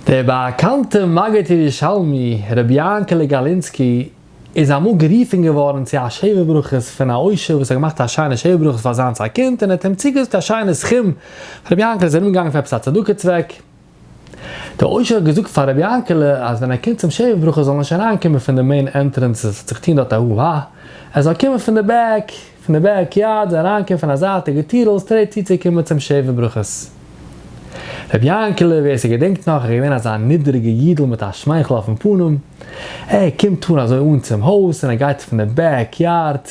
דער באקאנטער מגיד ירושלמי רבי יענקעלע גאלינסקי איז אמאל גערופען געווארען צו א שבע ברכות פון א עושר וואס האט געמאכט א שיינע שבע ברכות פאר זיינס א קינד און ער האט אים צוגעזאגט א שיינע סכום, רבי יענקעלע איז ארום געגאנגען פאר עפעס א צדקה צוועק, דער עושר האט געזאגט פאר רבי יענקעלע אז ווען ער קומט צום שבע ברכות זאל נישט אריין קומען פון די מעין ענטרענס עס האט זיך געטוהן דארט א הו הא, ער זאל קומען פון די בעק. פון די בעק יארד און אריינקומען פון א זייטיגע טיר אויס טרעי צוצוקומען צום שבע ברכות. ר' יענקעלע, ווער ס'געדענקט נאך, איז געווען אזא נידריגע אידל מיט א שמייכל אויפן פנים, ער קומט אן אזוי אן צום הויז און ער גייט פון די בעק יארד.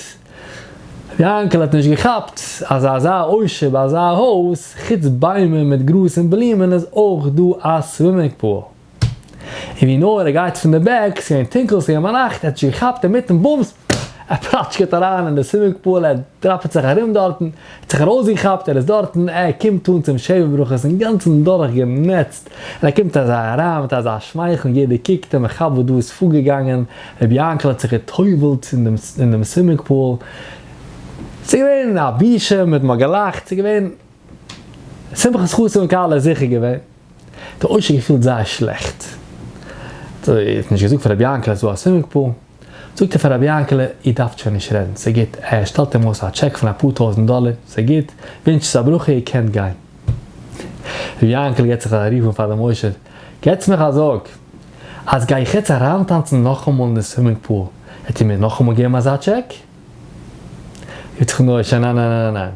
ר' יענקעלע האט נישט געכאפט אז אזא עושר ביי אזא הויז, חוץ ביימער מיט גראז און בלומען, איז אויך דא א סווימינג פּאָל. און ווי נאר ער גייט פון די בעק, ס'איז געווען טונקל, ס'איז געווען ביינאכט, ער האט זיך געכאפט אינמיטן בומס, ער פלאטשקעט אריין אין די סווימינג פול, ער דראפעט זיך ארום דארטן, ער האט זיך ארויסגעכאפט, ער איז דארטן, ער קומט אן צום שבע ברכות אינגאנצן דורכגענעצט, און ער קומט אזוי אריין מיט אזא שמייכל און יעדער קוקט אים, איך כאפ וואס דא איז פארגעגאנגען, ר' יענקל האט זיך גע'טובל'ט אין דעם סווימינג פול, ס'איז געווען א בושה, מ'האט נאר געלאכט, ס'איז געווען שמחת חתן כלה, זיכער געווען. די עושר געפילט זייער שלעכט, ער האט נישט געזאגט פאר רבי יענקל אז ס'איז דא א סווימינג פול, זאגט ער פאר רבי יענקל איר דארפט שוין נישט רעדן, ס'איז גוט, ער שטעלט אים אויס א טשעק פון אפאר טויזנט דאלער, ס'איז גוט, ווינטשט אונז א ברכה, איר קענט גיין. רבי יענקל געבט זיך א רוף אן פאר דעם עושר, געטס מיך א זאג, אז גיי איך יעצט אריינטאנצן נאכאמאל אין די סווימינג פול, וועט איר מיר נאכאמאל געבן אזא טשעק? יתכן נאר ש ניין ניין ניין ניין.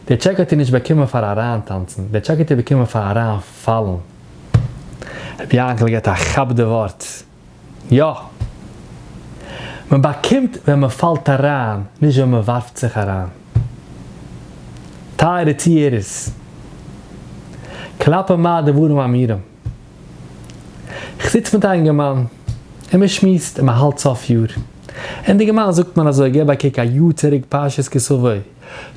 די טשעק האט איר נישט באקומען פאר אריינטאנצן, די טשעק האט איר באקומען פאר אריינפאלן. רבי יענקל געט א כאפ די ווארט, יא! מען באקומט ווען מען פאלט אריין, נישט ווען מען ווארפט זיך אריין. טייערע צוהערערס, כלפי מה הדברים אמורים? איך זיץ מיט א אינגערמאן און מען שמועסט און מען האלט סוף יאר, און די אינגערמאן זאגט מיר אזוי גיב א קוק א יאר צוריק פרשת כסוו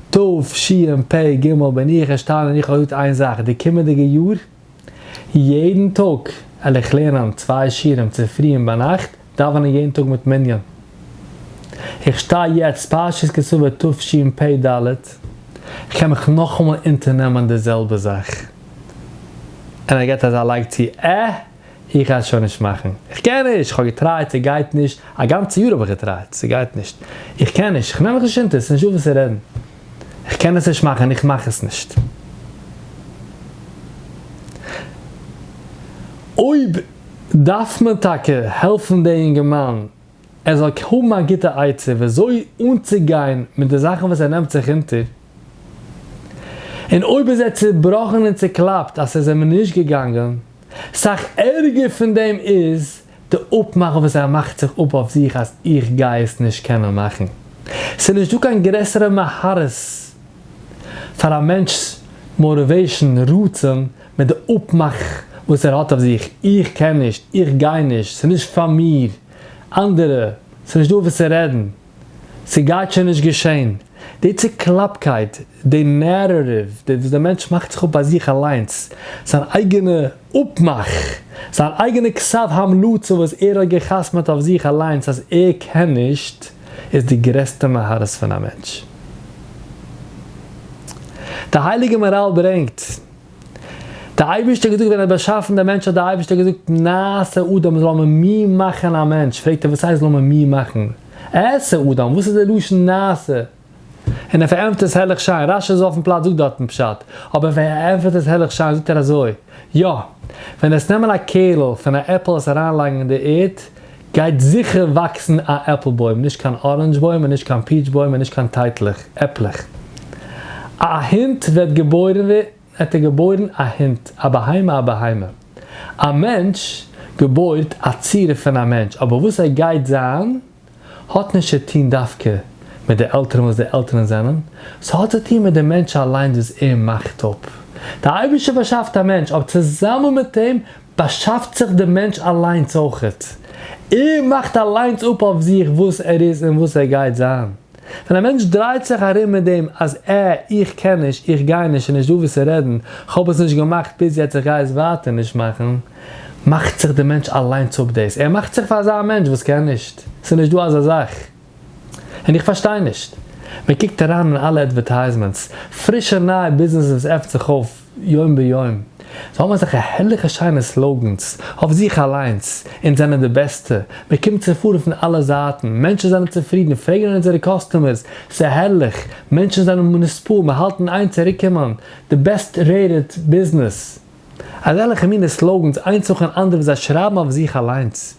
תשפ ג בין איך ארשטאנען און איך האב געזאגט איין זאך די קומענדיגע יאר יעדן טאג על איך לערנען צוויי שיעורים צופרי און ביינאכט, דאווענען יעדן טאג מיט מנין. איך שטיי יעצט פרשת כסלו תשפ ד, איך קען מיך נאכאמאל אונטערנעמען די זעלבע זאך. און ער געט אזא לייג צו, עה! איך גיי עס שוין נישט מאכן. איך קען נישט! איך האב געטרייט, ס'גייט נישט! א גאנצע יאר האב איך געטרייט, ס'גייט נישט! איך קען נישט! איך נעם מיך נישט אונטער, ס'נישטא וואס צו רעדן! איך קען עס נישט מאכן! איך מאך עס נישט! אויב. דארף מען טאקע העלפן די אינגערמאן ער זאל האבן א גוטע עצה וויאזוי אנצוגיין מיט די זאכן וואס ער נעמט זיך אונטער, און אויב איז ער צובראכן און צוקלאפט אז ס'איז אים נישט געגאנגען, סאך ערגער פון דעם איז די אפמאך וואס ער מאכט זיך אפ אויף זיך אז איך גיי עס נישט קענען מאכן. ס'איז נישט דא קיין גרעסערע מהרס פאר א מענטש'ס מאטיוועישן, רצון, מיט די אפמאך וואס ער האט אויף זיך, איך קען נישט, איך גיי נישט, ס'איז נישט פאר מיר, אנדערע, ס'איז נישט דא וואס צו רעדן, ס'גייט שוין נישט געשען, די צוקלאפקייט, די נערעטיוו וואס די מענטש מאכט זיך אפ ביי זיך אליינס, זיין אייגענע אפמאך, זיין אייגענע כתב המלצה וואס ער האט גע'חתמ'עט אויף זיך אליינס אז ער קען נישט, איז די גרעסטע מהרס פון א מענטש. די הייליגע מאראל ברענגט. די אייבערשטער האט געזאגט ווען ער האט באשאפן די מענטש האט די אייבערשטער געזאגט נעשה אדם זאל מען מיר מאכן א מענטש, פרעגט ער וואס הייסט זאל מען מיר מאכן, עשה אדם וואס איז די לשון נעשה? און ער פארענטפערט עס הערליך שיין, רשי איז אויפן פלאץ זאגט דארטן פשט, אבער ער פארענטפערט עס הערליך שיין זאגט ער אזוי, יא, ווען עס נעמען א קערל פון א עפל עס אריין לייגן אין די ערד, גייט זיכער וואקסן א עפל בוים, נישט קיין אראנדזש בוים און נישט קיין פיעטש בוים און נישט קיין טייטלעך, עפלעך. א א הונט וועט געבוירן וועט ער געבוירן א הונט, א בהמה א בהמה. א מענטש געבוירט א צורה פון א מענטש, אבער וואס ער גייט זיין האט נישט צו טון דווקא מיט די עלטערן וואס די עלטערן זענען, ס'האט צו טון מיט די מענטש אליינס וואס ער מאכט אפ. די אייבערשטער באשאפט א מענטש, אבער צוזאמען מיט אים באַשאַפֿט זיך דער מענטש אַלײנס אױכעט. ער מאַכט אַלײנס אָפּ אױף זיך װאָס ער איז און װאָס ער גײט זײַן. װען אַ מענטש דרײט זיך אַרום מיט דעם, אַז ע, איך קען נישט, איך גײ נישט, ס'נישט דאָ װאָס צו רעדן, כ'האָב עס נישט געמאַכט ביז יעצט, איך גײ עס װײַטער נישט מאַכן, מאַכט זיך דער מענטש אַלײנס אָפּ דאָס. ער מאַכט זיך פֿאַר אַזאַ מענטש װאָס קען נישט. ס'איז נישט דאָ אַזאַ זאַך. און איך פֿאַרשטײ נישט. מע קוקט אַרײַן אין אַלע אַדװערטײַזמענטס. פֿרישע נײַע ביזנעסן װאָס עפֿנט זיך אױף. יום ביום. זיי האבן אזעלכע הערליכע שיינע סלאגענס, אויף זיך אליינס, אונז זענען די בעסטע, מען קומט צו פארן פון אלע זייטן, מענטשן זענען צופרידן, פרעגן אן אונזערע קאסטומערס, ס'איז הערליך, מענטשן זענען מוניספאל, מיר האלטן איין צוריקקומען, די בעסט רעיטעד ביזנעס. אזעלכע מינע סלאגענס איינס נאכן אנדערן וואס זיי שרייבן אויף זיך אליינס.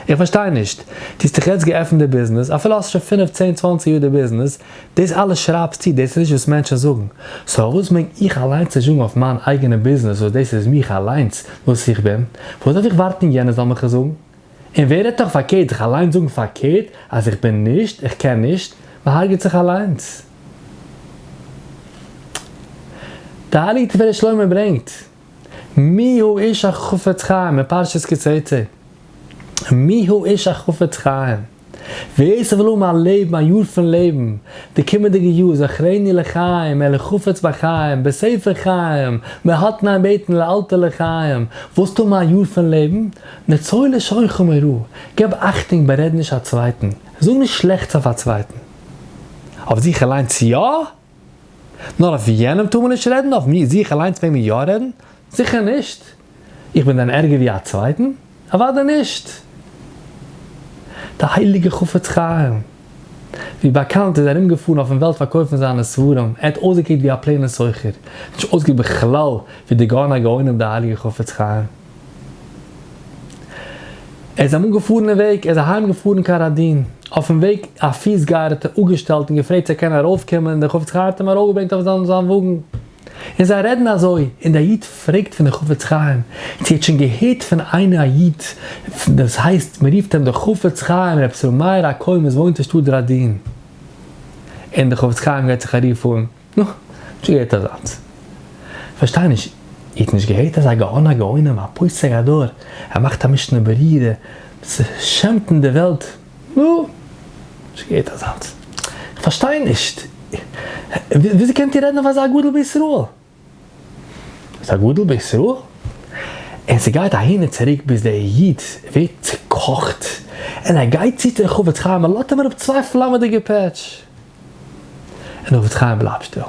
איך פארשטיי נישט, דו האסט דאך יעצט געעפנט די ביזנעס, אפילו האסט שוין פינף צען צוואנציג יאר די ביזנעס, דאס אלעס שרייבסטו, דאס איז נישט וואס מענטשן זאגן, סאו פארוואס מעג איך אליינס נישט זאגן אויף מיין אייגענע ביזנעס וואס דאס איז מיך אליינס וואס איך בין, פארוואס דארף איך ווארטן יענער זאל מיך עס זאגן? און ווער רעדט נאך פארקערט זיך אליינס זאגן פארקערט אז איך בין נישט, איך קען נישט, מען הרג'עט זיך אליינס. די הייליגע תפארת שלמה ברענגט. מי הוא איש החפץ חיים אין פרשת כי תצא? מי הוא איש החפץ חיים? ווער ס'וויל האבן א לעבן א יאר פון לעבן די קומענדיגע יאר זכרני לחיים אלא חפץ בחיים בספר חיים מהתנאי בעתן לאלתר לחיים ווילסט האבן א יאר פון לעבן נצור לשורך מרע געב אכטונג בארעד נישט א צווייטן זאג נישט שלעכטס אויף א צווייטן אויף זיך אליינס יא? נאר אויף יענעם טאר מען נישט רעדן, אויף מיר, זיך אליינס מעג מען יא רעדן? זיכער נישט! איך בין דען ערגער ווי א צווייטן? אוודאי נישט! דער הייליגער חפץ חיים, ווי באקאנט, איז ארומגעפארן אויפן וועלט פארקויפן זיינע ספרים, ער האט אויסגעקוקט ווי א פלעינער סוחר, נישט אויסגעקוקט בכלל ווי דער גאון הגאונים דער הייליגער חפץ חיים. ער איז אמאל געפארן אין וועג, ער איז אהיים געפארן קיין ראדין, אויפן וועג א פיסגייער האט ער אפגעשטעלט און געפרעגט צו ער קען ארויף קומען און דער חפץ חי האט אים ארויף געברענגט אויף זיין וואגן, און זיי רעדן אזוי, און דער איד פרעגט פון דער חפץ חיים צו ער האט שוין געהערט פון איינער א איד דאס הייסט מען רופט אים דער חפץ חיים רבי ישראל מאיר הכהן וואס וואוינט אין שטאט ראדין, און דער חפץ חיים געבט זיך א רוף אן. נו, נישט געהערט אזאנס. פארשטיי נישט, איר האט נישט געהערט אזא גאון הגאונים א פוסק הדור, ער מאכט א משנה ברורה, ס'שעמטן די וועלט, נו, נישט געהערט אזאנס. כ'פארשטיי נישט, וויאזוי קענט איר רעדן אויף אזא גדול בישראל? אזא גדול בישראל? און ס'גייט אהין און צוריק ביז דער איד ווערט צוקאכט און ער גייט צו צו די חפץ חיים און לאזט אים אראפ צוויי פלאמעדיגע פעטש. און אבד חיים בלייבט שטיל.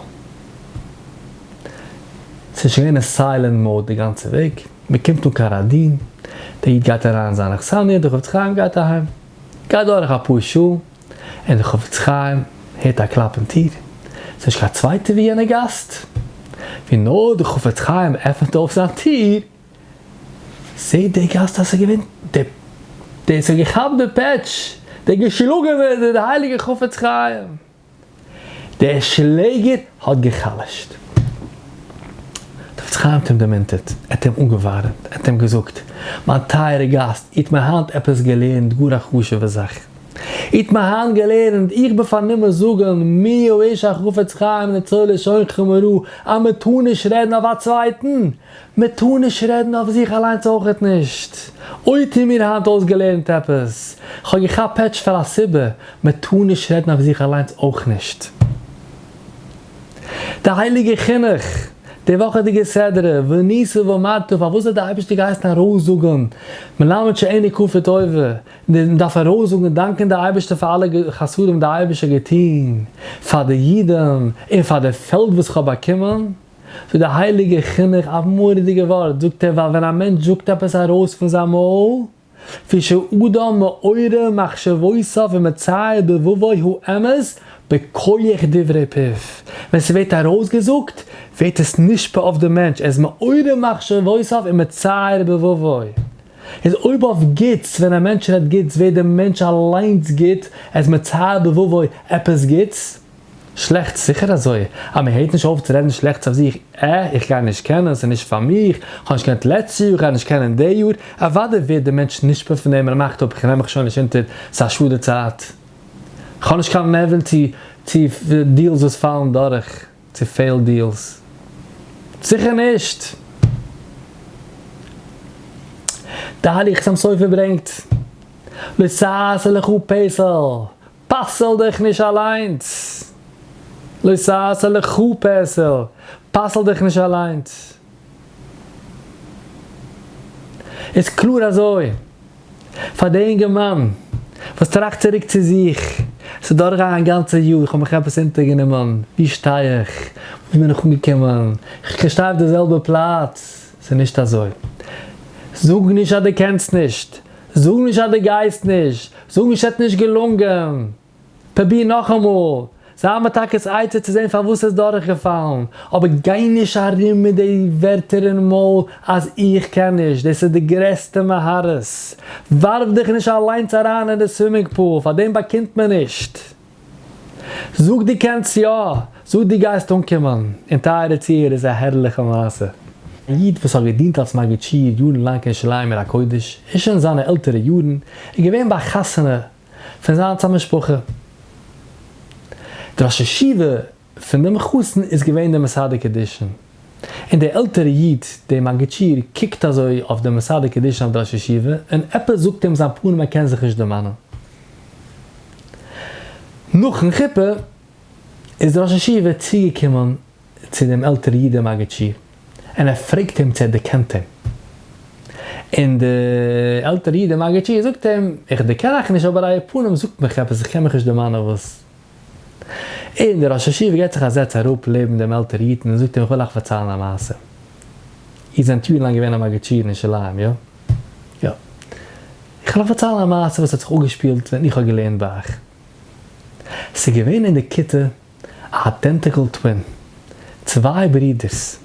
ס'איז שוין געווען אין סיילענט מאוד די גאנצע וועג. מ'קומט אן קיין ראדין. דער איד גייט אריין אין זיין אכסניא, דער חפץ חיים גייט אהיים. גייט דורך אפאר שעה, און דער חפץ חיים הערט א קלאפ אין טיר. ס'איז נישט קיין צווייטער ווי יענער גאסט. ווי נאר דער חפץ חיים עפענט אויף זיין טיר, זעהט דער גאסט אז עס איז געווען די די עס האט געכאפט די פעטש, די געשלאגען ווען די די הייליגע חפץ חיים, דער שלעגער האט געחלשט. די חפץ חיים האט אים דערמונטערט, ער האט אים אנגעווארעמט, ער האט אים געזאגט, מיין טייערע גאסט, איר האט מיר היינט עפעס געלערנט גאר א חשובע זאך, איר האט מיר היינט געלערנט, איך בין פארנומען זאגען מי הוא איש החפץ חיים ניצול לשונכם הרע, אז מען טאר נישט רעדן אויף א צווייטען, מען טאר נישט רעדן אויף זיך אליינס אויכעט נישט. אוי טוה מיר היינט אויסגעלערנט עפעס. כ'האב געכאפט פעטש פאר א סיבה, מען טאר נישט רעדן אויף זיך אליינס אויך נישט. די הייליגע חינוך, די וואכעדיגע סדרה, וניסו ואמרתו, פארוואס האט די אייבערשטער געהייסן ארויסזאגן, מלמד שאינו כפוי טובה, און מען דארף ארויסזאגן און דאנקען די אייבערשטער פאר אלע חסדים וואס די אייבערשטער האט געטון פאר די אידן און פאר די פעלד וואס כ'האב באקומען? פון די הייליגע חינוך אויף מורא'דיגע ווארט זאגט ער ווייל ווען א מענטש זאגט עפעס ארויס פון זיין מויל, כפי שאדם מעורר מחשבותיו ומצייר דבבו הוא אמת בכח דברי פיו, ווען ס'ווערט ארויסגעזאגט ווערט עס נשפע אויף די מענטש, ער איז מעורר מחשבותיו ומצייר דבבו, איז אויב אויף גוטס, ווען א מענטש רעדט גוטס ווערט די מענטש אליינס גוט, ער איז מצייר דבבו עפעס גוטס. שלעכטס? זיכער אזוי! אז מען הערט נישט אויף צו רעדן שלעכטס אויף זיך, עה, איך גיי נישט קענען, ס'איז נישט פאר מיך, איך האב נישט געקענט לעצטס יאר, איך גיי נישט קענען די יאר, אוודאי ווערט דער מענטש נשפע פון דעם און ער מאכט אפ, איך נעם מיך שוין נישט אונטער, ס'איז א שאד די צייט, איך האב נישט קיין נערווען צו צו דיעלס וואס פאלן דורך, צו פעילד דיעלס. זיכער נישט! דאליכס עם סופר ברענגט, לשאת לך פסל, פסל דיך נישט אליינס! לא תעשה לך פסל! פסל דיך נישט אליינס! איז קלאר אזוי, פאר די אינגערמאן וואס טראכט צוריק צו זיך, ס'איז דורכגעגאנגען א גאנצע יאר, איך האב מיך עפעס אונטערגענומען, ווי שטיי איך, וואו בין איך אנגעקומען, איך שטיי אויף די זעלבע פלאץ, ס'איז נישט אזוי. זאג נישט אז דו קענסט נישט, זאג נישט אז דו גייסט נישט, זאג נישט ס'עט נישט געלונגען, פרוביר נאכאמאל, זיי מיט טאקעס עצה צו זען פארוואס ס'איז דורכגעפאלן, אבער גיי נישט ארום מיט די ווערטער אין מויל אז איך קען נישט, דאס איז די גרעסטע מהרס, ווארף דיך נישט אליינס אריין אין די סווימינג פול, פאר דעם באקומט מען נישט. זאג דו קענסט יא! זאג דו גייסט אנקומען! און טייערע צוהערער איז א הערליכע מעשה. א איד וואס האט געדינט אלס מגיד שיעור יארן לאנג אין שלום עיר הקודש און שוין אין זיינע עלטערע יארן איז געווען ביי א חתונה פון זיינס א משפחה. די ראש ישיבה פון דעם חתן איז געווען די מסדר קידושין, און דער עלטערע איד, דער מגיד שיעור, קוקט אזוי אויף דעם מסדר קידושין אויף די ראש ישיבה, און עפעס זאגט אים זיין פנים ער קען זיך נישט דערמאנען. נאכן חופה איז דער ראש ישיבה צוגעקומען צו דעם עלטערע איד דעם מגיד שיעור, און ער פרעגט אים צו ער דערקענט אים, און דער עלטערע איד דער מגיד שיעור זאגט אים, איך דערקען אייך נישט אבער אייער פנים זאגט מיך עפעס, איך קען מיך נישט דערמאנען וואס. און דער ראש ישיבה געט זיך א זעץ אראפ לעבן דעם עלטער אידן און זאגט אים איך וויל אייך פארציילן א מעשה. איר זענט יארן לאנג געווען א מגיד שיעור אין שוליים, יא? יא. איך וויל אייך פארציילן א מעשה וואס האט זיך אפגעשפילט ווען איך האב געלערנט ביי אייך. ס'איז געווען אין די כיתה א איידענטיקל טווין, צוויי ברודערס,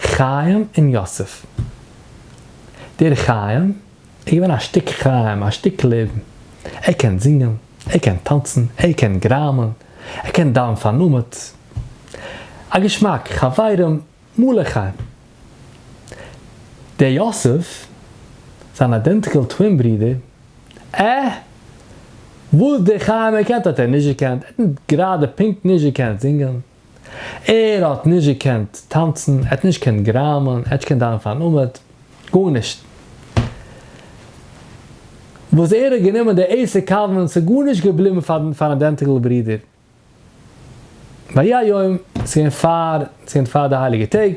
חיים און יוסף. דער חיים. ער איז געווען א שטיק חיים, א שטיק לעבן. ער קען זינגען, ער קען טאנצן, ער קען גראמען, ער קען דיין פארנומעט. א געשמאק, חברים, מלא חיים. דער יוסף, זיין איידענטיקעל טווין ברודער, עה? וואס דער חיים געקענט האט ער נישט געקענט, ער האט גראדע פונקט נישט געקענט זינגען. ער האט נישט געקענט טאנצן, ער האט נישט געקענט גראמען, ער האט נישט געקענט דיינען פארן עמוד, גארנישט. וואס ער האט גענומען די עשר קאווענענטס איז גארנישט געבליבן פארן פארן אדענטיקל ברודער. ויהי היום, ס'איז געווען פאר, ס'איז געווען פאר די הייליגע טעג,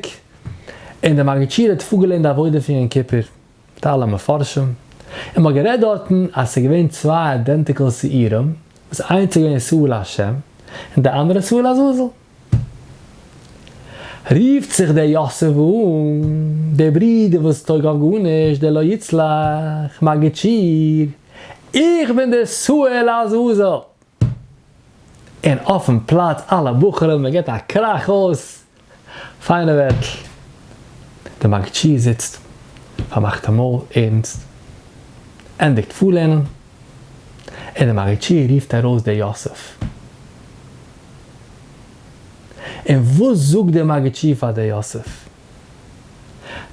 און די מגיד שיעור האט פארגעלערנט די עבודה פון יום כיפור. טייל המפרשים, און מ'האט גערעדט דארטן אז ס'איז געווען צוויי אידענטיקעל שעירים, וואס איינס איז געווען סעו לה' און די אנדערע סעו לעזאזל. רופט זיך דער יאסעלע אן, דער ברודער וואס טויג אויף גארנישט, דער לא יצלח, מגיד שעיר, איך בין דער סעו לעזאזל! און אויפן פלאץ אלע בחורים מען געט א קראך אויס פיינע ווערטל, די מג ש זיצט פארמאכט די מויל ערנסט, ענדיגט פארלערנען און די מג ש רופט ארויס די יוסף, און וואס זאגט די מג ש פאר די יוסף?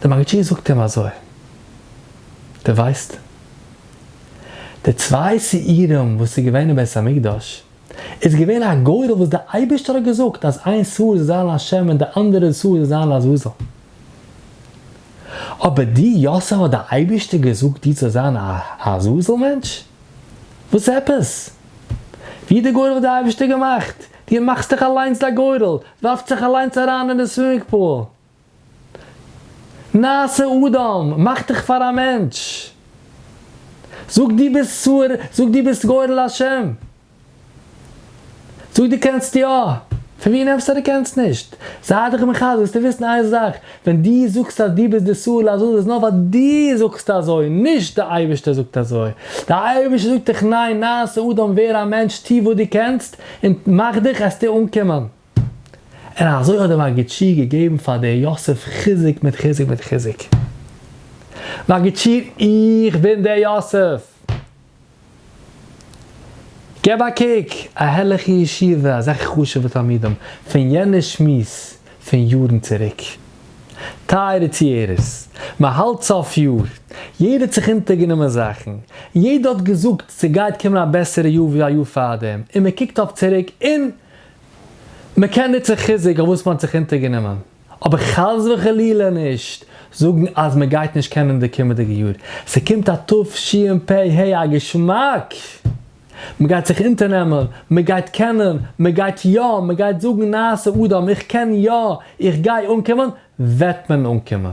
דער מגיד שיעור זאגט אים אזוי, דו ווייסט, די צוויי שעירים וואס איז געווען אין בית המקדש, איז געווען א גורל וואס דער אייבערשטער האט געזאגט אז איין שעור זאל זיין להשם און די אנדערע שעור זאל זיין לעזאזל. אבער דו יוסף האט דער אייבערשטער געזאגט דיר צו זיין א לעזאזל מענטש? וואס עפעס? ווי האט דער גורל האט דער אייבערשטער געמאכט? די מאכסט דיך אליינס א גורל, ווארפט זיך אליינס אריין אין די סווימינג פול. נעשה אדם, מאך דיך פאר א מענטש. זאג דו ביסט צור, זאג דו ביסט גורל השם. זאג דו קענסט יא. פון ווי נעמסטו אז דו קענסט נישט? זיי דיך מחזק, זאלסטו וויסן איין זאך, ווען דו זאגסט אז דו ביסט די צור לעזאזל איז נאר ווייל דו זאגסט אזוי, נישט די אייבערשטער זאגט אזוי. די אייבערשטער זאגט דיך ניין, נעשה אדם, ווער א מענטש, טו וואס דו קענסט, און מאַך דיך עסט ער אָנקומען. און אַזױ האָט דער מגיד שיעור געגעבן פֿאַר דער יוסף חיזוק מיט חיזוק מיט חיזוק. מגיד שיעור, איך בין דער יוסף! גיב אַ קוק, אַ הערלעכע ישיבֿה, אַזעלכע חשובֿע תּלמידים, פֿון יענער שמועס פֿון יאָרן צוריק. טייערע צוהערערס, מען האלט סוף יאר, יעדער האט זיך אונטערגענומען זאכן, יעדער האט געזאגט ס'גייט קומען א בעסערע יאר ווי א יאר פארדעם, און מען קוקט אויף צוריק און מען קען נוצן חיזוק אויף וואס מען האט זיך אונטערגענומען, אבער חס וחלילה נישט זאגן אז מען גייט נישט קענען די קומענדיגע יאר, ס'קומט א תשפ ה א געשמאק! מ'גייט זיך אונטערנעמען, מ'גייט קענען, מ'גייט יא, מ'גייט זאגן נעשה אדם, איך קען יא, איך גיי אנקומען, וועט מען אנקומען.